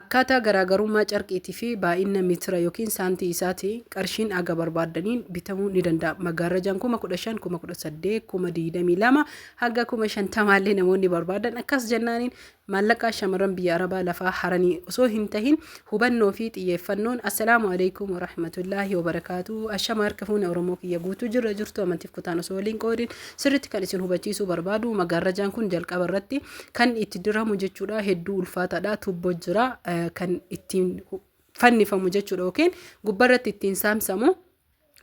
Akkaataa garaagarummaa carqiitii fi baay'inna mitira ykn saantii isaatiin qarshiin haga barbaaddaniin bitamuu ni danda'a. Maggaarrajaan 15,000, 18,000, 22,000 haga 50,000 illee namoonni barbaadan akkas jennaaniin maallaqaa shamarran biyya Arabaa lafaa haranii osoo hin tahin hubannoo fi xiyyeeffannoon Assalaamu alaikum warahmatullaahi wabarakaatu ashama harka fuune Oromoo kiyya guutuu jirra jirtu amantiif kutaan osoo waliin qoodin sirritti kan isin hubachiisuu barbaadu maggaarrajaan kun jalqaba irratti kan itti diramu jechuudha hedduu ulfaataadha tuubboo jira kan ittiin fannifamu jechuudha yookiin gubbarratti ittiin saamsamu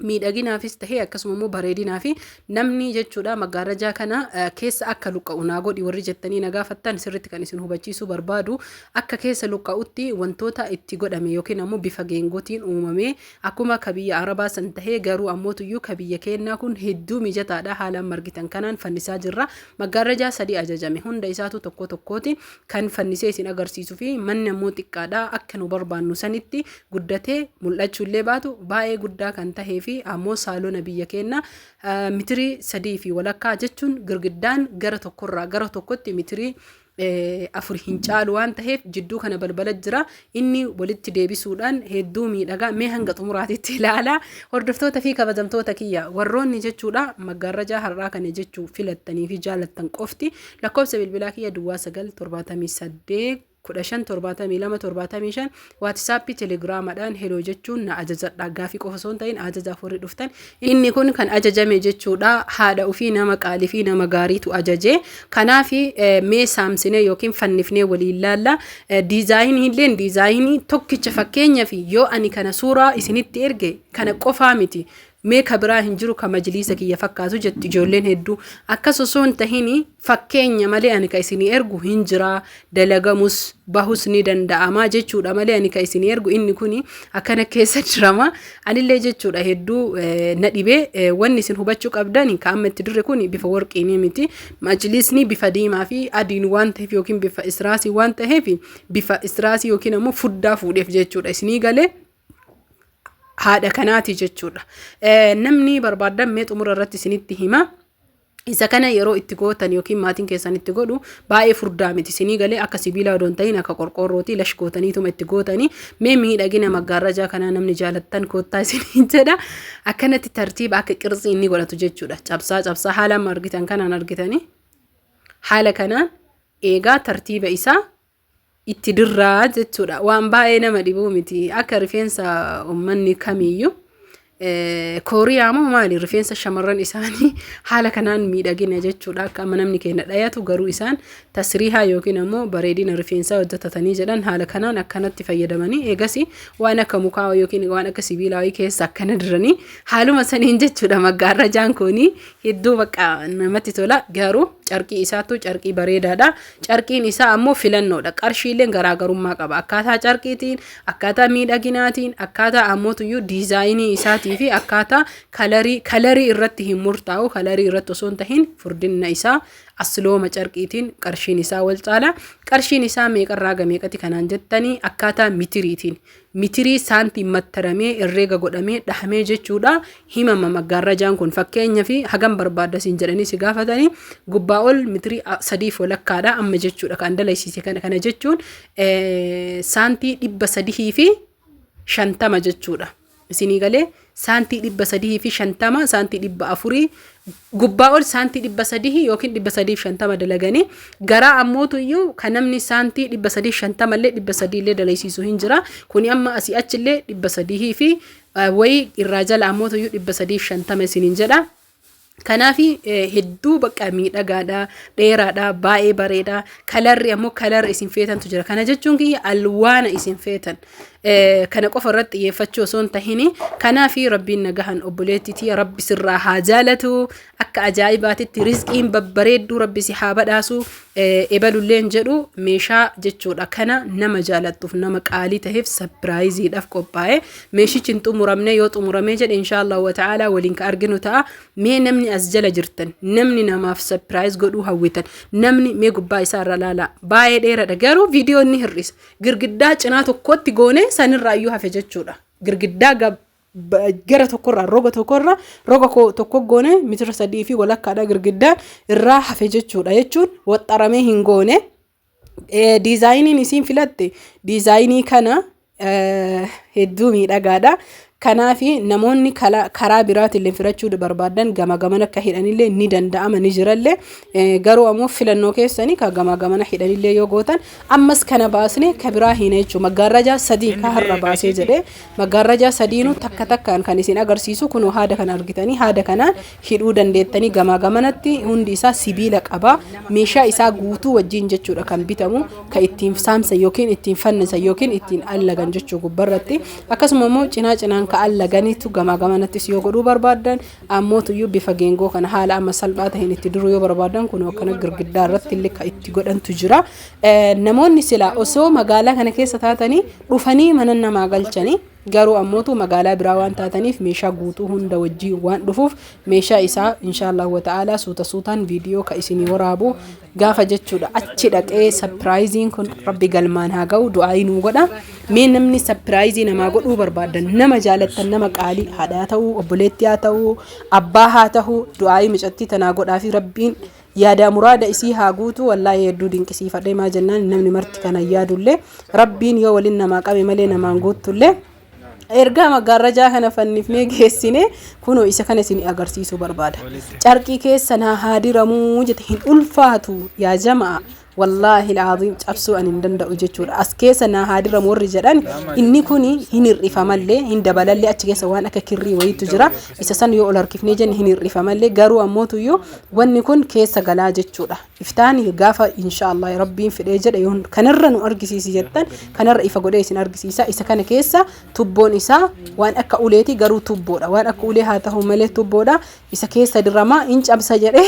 miidhaginaafis ta'ee akkasuma immoo bareedinaa fi namni jechuudha maggaarajaa kana keessa akka luqqa'u naa godhi warri jettanii na gaafattan sirritti kan isin hubachiisuu barbaadu akka keessa luqqa'utti wantoota itti godhame yookiin ammoo bifa geengotiin uumamee Akkuma ka biyya Arabaa san tahee garuu ammoo tuyyuu ka biyya keennaa kun hedduu mijataadha haalaan margitan kanaan fannisaa jirra. Maggaarrajaa sadii ajajame. Hunda isaatuu tokkoo tokkooti. Kan fannisee isin agarsiisufi. Manni ammoo xiqqaadha. Akka nu barbaannu sanitti guddatee mul'achuu illee baatu baay'ee guddaa kan tahee fi ammoo saalona biyya keennaa mitirii sadii fi walakkaa jechuun girgiddaan gara tokkorraa gara tokkotti mitirii afur hin caalu waan taheef jidduu kana balbala jira inni walitti deebisuudhaan hedduu miidhagaa mee hanga xumuraatitti ilaala hordoftoota fi kabajamtoota kiyya warroonni jechuudha maggaarrajaa har'aa kana jechuu filattanii fi jaalattan qofti lakkoofsa bilbilaa kiyya duwwaa sagal torbaatamii saddeet kudha shan torbaatamii lama torbaatamii shan Whatsappi telegrama dhaan hello jechuun na ajajadha gaafi qofa osoo hin ta'in ajajaaf warri dhuftan inni kun kan ajajame jechuudha haadha ofii nama qaalii fi nama gaariitu ajaje kanaaf mee saamsinee yookiin fannifnee waliin laalla diizaayinii illeen diizaayinii tokkicha fakkeenya fi yoo ani kana suuraa isinitti erge kana qofaa miti Mee ka biraa hin jiru ka majliisa kiyya fakkaatu jettu ijoolleen hedduu. Akkas osoo hin tahin fakkeenya malee ani ka isinii ergu hin jiraa, dalagamus, bahus ni danda'amaa jechuudha malee ani ka isinii ergu inni kuni akkana keessa jirama. Anillee jechuudha hedduu na dhibe. Wanni isin hubachuu qabdan ka amma itti dirre kuni bifa warqiinii miti. Majliisni bifa diimaa fi adiin waan ta'eef yookiin bifa israasii waan ta'eef bifa israasii yookiin ammoo fuddaa fuudheef jechuudha isinii galee. haadha kanaati jechuudha. Namni barbaadan mee xumura irratti isinitti hima. Isa kana yeroo itti gootan yookiin maatiin keessan itti godhu baay'ee furdaa miti isinii galee akka sibiilaa odoon ta'in akka qorqoorrooti lash gootaniituma itti gootanii mee miidhagina maggaarrajaa kanaa namni jaalattan koottaa isinii jedha akkanatti tartiiba akka qirtsii inni godhatu jechuudha cabsaa cabsaa haala amma argitan kanaan argitanii haala kanaan eegaa tartiiba isaa itti dirraa jechuudha. Waan baay'ee nama dhibuu miti. Akka rifeensa uummanni kamiiyyuu kooriyaa moo maali rifeensa shamarran isaanii haala kanaan miidhagina jechuudha. Akka amma namni keenya dhayatu garuu isaan tasriihaa yookiin ammoo bareedina rifeensaa hojjetatanii jedhan haala kanaan akkanatti fayyadamanii eegas waan akka mukaa yookiin waan akka sibiilaa keessa akkana diranii haaluma saniin jechuudha maggaarrajaan kun hedduu baqa namatti tola garuu carqii isaatu carqii bareedaadha. Carqiin isaa ammoo filannoodha. Qarshiilleen garaagarummaa qaba. Akkaataa carqiitiin, akkaataa miidhaginaatiin, akkaataa ammootuyyuu diizaayinii isaatii fi akkaataa kalarii, kalarii irratti hin murtaa'u. Kalarii irratti osoo hin tahin furdinna isaa aslooma carqiitiin qarshiin isaa wal caala. Qarshiin isaa meeqarraa hanga meeqati kanaan jettanii akkaataa mitiriitiin. mitirii saantiim mattaramee herreega godhamee dhahamee jechuudha himama maggaarrajaan kun fakkeenyaaf hagam barbaadda siin jedhanii si gaafatanii gubbaa ol mitirii a- sadiif walakkaadha amma jechuudha kan dalaysiise kana kana jechuun eh, saantii dhibba sadihii fi shantama jechuudha isinii galee saantii dhibba sadihii fi shantama saantii dhibba afurii gubbaa ol saantii dhibba sadihii yookiin dhibba sadii fi shantama dalaganii garaa ammootu iyyuu kan namni saantii dhibba sadii fi shantama illee dhibba sadii illee dalaysiisu hin jira kuni amma asii achi illee dhibba sadihii fi wayii irraa jala ammootu iyyuu dhibba sadii fi shantama isiniin jedha Kanaaf hedduu bakka miidhagaadha, dheeraadha, baay'ee bareeda. Kalarri ammoo kalarri isin feetantu jira. Kana jechuun kiyya alwaana isin feetan. Kana qofa irratti xiyyeeffachuu osoo hin tahin kanaaf rabbiin nagahan obboleettiitii rabbi sirraa haa jaalatu. Akka ajaa'ibaatitti rizqiin babbareedduu rabbi si haa badhaasu. Ebalulleen jedhu meeshaa jechuudha. Kana nama jaalattuuf, nama qaalii taheef sapiraayiziidhaaf qophaa'e. Meeshichi hin xumuramne yoo xumuramee jedhe inshaallahu wa ta'aalaa waliin ka arginu ta'a. Mee namni as jala jirtan, namni namaaf sapiraayiz godhuu hawwitan, namni mee gubbaa isaa irra laalaa. Baay'ee dheeradha garuu viidiyoo inni hir'isa. Girgiddaa cinaa tokkotti goone sanirraa iyyuu hafe jechuudha. Girgiddaa gara tokkorraa roga tokkorraa roga tokko goone mitira sadii fi walakkaadha girgiddaan irraa hafe jechuudha jechuun waxxaramee hin goone. Diizaayiniin isiin filatte diizaayinii kana hedduu miidhagaadha. Kanaaf namoonni karaa biraatiin filachuu barbaadan gama gaman akka hidhanillee ni danda'ama ni jirallee garuu ammoo filannoo keessanii ka gama gamana hidhanillee yoo gootan ammas kana baasne ka biraa hin jechuudha. Maggaarrajaa sadii ka har'a baasee jedhee Maggaarrajaa sadiinuu takka takkaan kan isin agarsiisu kunoo haada kana argitanii haada kanaan hidhuu dandeettanii gamaa gamanatti hundi isaa sibiila qaba meeshaa isaa guutuu wajjiin jechuudha kan bitamu ka ittiin saamsan yookiin ittiin fannisan yookiin ittiin allagan jechuu gubbarratti akkasuma immoo cinaa cinaan ka allaganiitu gamaa gamanattis yoo godhuu barbaadan ammootuyyuu bifa geengoo kana haala amma salphaa ta'een itti duruu yoo barbaadan kunoo akkana girgiddaa irratti illee ka itti godhantu jira namoonni silaa osoo magaalaa kana keessa taatanii dhufanii mana namaa galchanii garuu ammootu magaalaa biraa waan taataniif meeshaa guutuu hunda wajjii waan dhufuuf meeshaa isaa inshaallahu wata'aalaa suuta suutaan viidiyoo ka isinii waraabu gaafa jechuudha achi dhaqee sapiraayiziin kun rabbi galmaan haa ga'u du'aayii nuu godha mee namni sapiraayizii namaa godhuu barbaadan nama jaalattan nama qaalii haadhaa ta'uu obboleettii haa ta'uu abbaa haa ta'uu du'aayii micattii tanaa godhaa fi rabbiin Yaadaa muraada isii haa guutu wallaahi hedduu dinqisiifadhe maa jennaan namni marti kanan yaadullee rabbiin yoo walin namaa qabe malee namaan guuttullee ergaa maggaarrajaa kana fannifnee geessine kunoo isa kana isin agarsiisuu barbaada carqii keessa naa haa diramuu jete hin ulfaatu yaa jama'a Wallaahil Aziim cabsuu ani hin danda'u jechuudha. As keessa naa haa diramu warri jedhan inni kuni hin hir'ifamallee hin dabalallee achi keessa waan akka kirrii wayiitu jira. Isa san yoo ol harkifnee jenne hin hir'ifamallee garuu ammootu iyyuu wanni kun keessa galaa jechuudha. Iftaan gaafa inshaallah rabbiin fedhee jedhe yoon kanarra nu argisiisi jettan kanarra ifa godhee isin argisiisa. Isa kana keessa tubboon isaa waan akka uleeti garuu tubboodha. Waan akka ulee haa ta'u malee tubboodha. Isa keessa diramaa hin cabsa jedhee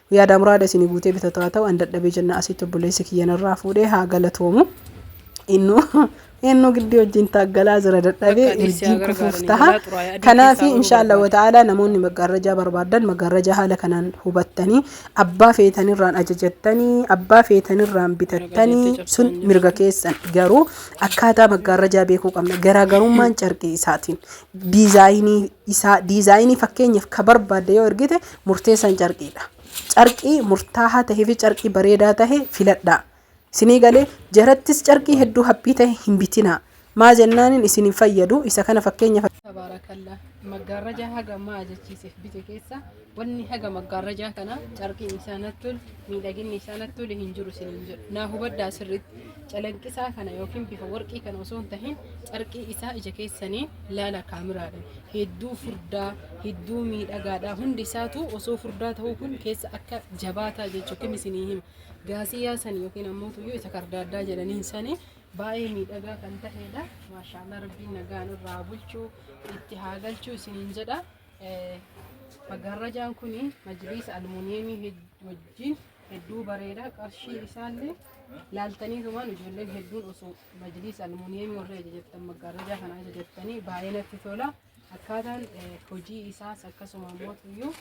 Yaada muraada isinii guutee bitatu haa ta'u an dadhabee jenna asitti obboleessi kiyya narraa fuudhee haa galatoomu. Innu innu giddii wajjin taaggalaa jira dadhabee Akka anis si haa urjiin kufuuf gargaaran taha. eegalaa xuraa'ee adii Kanaaf keessaa bahuu insha Allah barbaada. ta'ala namoonni maggaarrajaa barbaadan maggaarrajaa haala kanaan hubattanii abbaa feetanirraan ajajattanii abbaa feetanirraan bitattanii Ragadeettee sun cabsaan mirga jirtu. keessan garuu akkaataa maggaarrajaa beekuu qabna garaagarummaan carqii isaatiin diizaayinii isaa diizaayinii fakkeenyaaf ka barbaadde yoo ergite murteessan carqiidha. Carqii murtaahaa tahee fi carqii bareedaa tahe filadhaa. Isinii galee jarattis carqii hedduu haphii tahe hin bitinaa. Maa jennaanin isin hin fayyadu isa kana fakkeenya Tabaarakalla maggaarrajaa haga maa jechiisef bite keessa wanni haga maggaarrajaa kana carqiin isaa nattol miidhaginni isaa nattole hin jiru isiniin jedhu naa hubadhaa sirriitti Calaqqisaa kana yookiin bifa warqii kana osoo hin tahin carqii isaa ija keessaniin laala kaamiraadhaan. Hedduu furdaa, hedduu miidhagaadha. Hundi isaatu osoo furdaa ta'uu kun keessa akka jabaataa jechuu kim isinii hima. Gaasiyaa sani yookiin ammoo tuyyuu isa kardaaddaa jedhaniin sani baay'ee miidhagaa kan ta'edha. Maashaallah rabbiin nagaan irraa haa bulchuu itti haa galchuu isiniin jedha. Eh, Maggaarrajaan kun majliisa almuuniyeemii hed- wajjin hedduu bareeda qarshii isaallee laaltanii tumaan ijoolleen hedduun osoo majliisa almuuniyeemii warri ajajattan maggaarrajaa kana ajajattanii baay'ee natti tola akkaataan eh, hojii isaas akkasuma mootuyyuu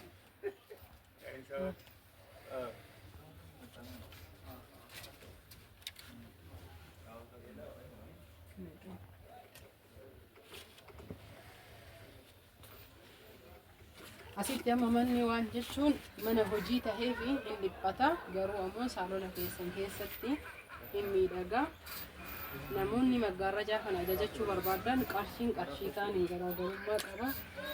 Asitti amma manni waan jechuun mana hojii tahee fi hin dhiphata garuu ammoo saalona keessan keessatti hin miidhaga. Namoonni maggaarrajaa kana ajajachuu barbaadan qarshiin qarshii kaaniin garaagarummaa qaba.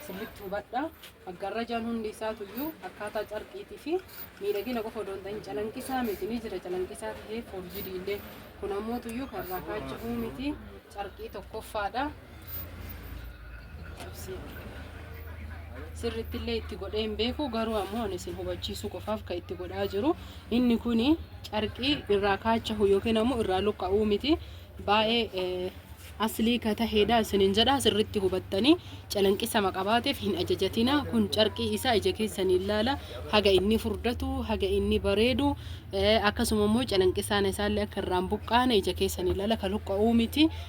Sirriitti hubadha. Maggaarrajaan hundi isaatuyyuu akkaataa carqiitii fi miidhagina qofa odoo hin ta'in calanqisaa miti ni jira calanqisaa tahee foorjidii illee. Kun ammootuyyuu kan irraa kaachifuu miti carqii tokkoffaadha. sirritti illee itti godhee hin beeku garuu ammoo ani isin hubachiisuu qofaaf kan itti godhaa jiru inni kun carqii irraa kaachahu yookiin ammoo irraa luqqa'uu miti baay'ee aslii ka taheedha isinin jedha sirritti hubattanii calanqisama qabaateef hin ajajatina kun carqii isaa ija keessanii ilaala haga inni furdatu haga inni bareedu akkasuma immoo calanqisaan isaallee akka irraan buqqaane ija keessanii ilaala ka luqqa'uu miti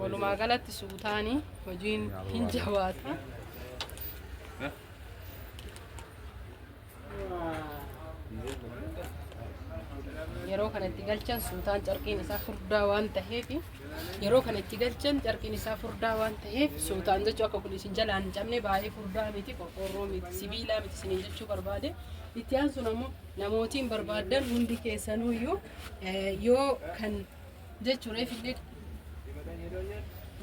Walumaa galatti suutaanii hojiin hin jabaata. Yeroo kana itti galchan suutaan carqiin isaa furdaa waan ta'eef yeroo kana itti galchan carqiin isaa furdaa waan ta'eef suutaan jechuu akka kun isin jalaan hin cabne baay'ee furdaa miti qorqoorroo miti sibiilaa miti isiniin jechuu barbaade itti aansuun ammoo namootiin barbaaddan hundi keessanuyyuu eh, yoo kan jechuun reefillee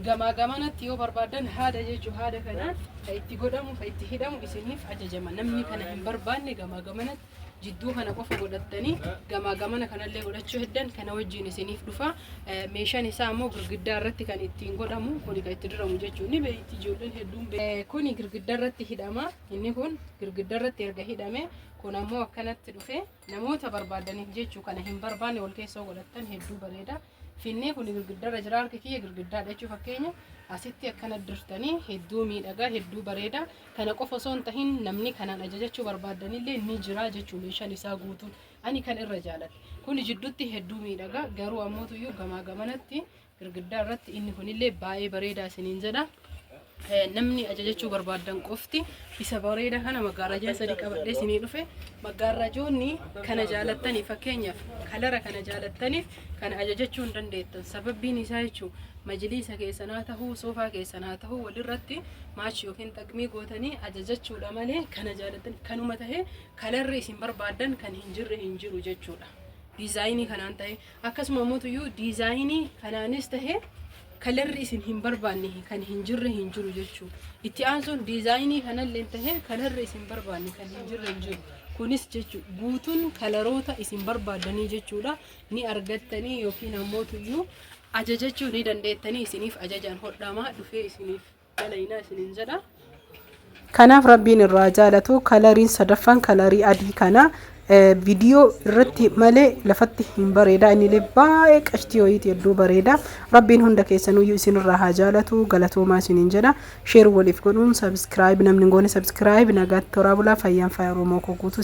gamaa gamanatti yoo barbaadan haada jechuu haada kanaan ka itti godhamu ka itti hidhamu isiniif ajajama namni kana hin barbaanne gamaa gamanatti jidduu kana qofa godhattanii gamaa gamana kanallee godhachuu heddan kana wajjiin isiniif dhufa Eh, meeshaan isaa immoo girgiddaa irratti kan ittiin godhamu kuni kan itti diramu jechuun ni beekti ijoolleen hedduun be- Eh, kuni girgiddaa irratti hidhama inni kun girgiddaa irratti erga hidhame kun ammoo akkanatti dhufe Namoota barbaadaniif jechu kana hin barbaanne wal keessa yoo godhattan hedduu bareeda. Finnee kun girgiddarra jira harki kiyya girgiddaadha jechuun fakkeenya asitti akkana dirtanii hedduu miidhagaa hedduu bareeda. Kana qofa osoo hin tahin namni kanaan ajajachuu barbaadanillee ni jira jechuu meeshaan isaa guutuun ani kan irra jaaladhe. Kuni jidduutti hedduu miidhagaa garuu ammootuyyuu gamaa gamanatti girgiddaa irratti inni kunillee baay'ee bareedaa isiniin jedha. Eh, Namni ajajachuu barbaadan qofti isa bareeda kana maggaarajaa sadii qabadhee isinii dhufe maggaarajoonni kana jaalattaniif fakkeenyaaf kalara kana jaalattaniif kana ajajachuu hin dandeettan sababbiin isaa jechuun majiliisa keessan haa ta'uu soofaa keessan haa ta'uu walirratti maachi yookiin xaqmii gootanii ajajachuudha malee kana jaalattan kanuma ta'ee kalarri isin barbaadan kan hin jirre hin jiru jechuudha. diizaayinii kanaan ta'e Akkasuma ammoo tuyyuu diizaayinii kanaanis tahe kalarri isin hin barbaanne kan hin jirre hin jiru jechuu. Itti aansuun diizaayinii kanallee tahe kalarri isin barbaanne kan hin jirre hin jiru. Kunis jechuu guutuun kalaroota isin barbaaddanii jechuudha ni argattanii yookiin ammoo tuyyuu ajajachuu ni dandeettanii isiniif ajajaan hodhaamaa dhufee isiniif dalaynaa isinin jedha. Kanaaf rabbiin irraa jaalatu kalariin sadaffaan kalarii adii kana viidiyoo irratti malee lafatti hin bareeda innilee baay'ee qashtii wayiiti hedduu bareeda rabbiin hunda keessanuyyuu isinirraa haa jaalatu galatoomaa isiniin jedha sheer waliif godhuun sabiskiraayib namni hin goone sabiskiraayib nagaatti toraa bulaa fayyaan faaya oromoo koo guutuu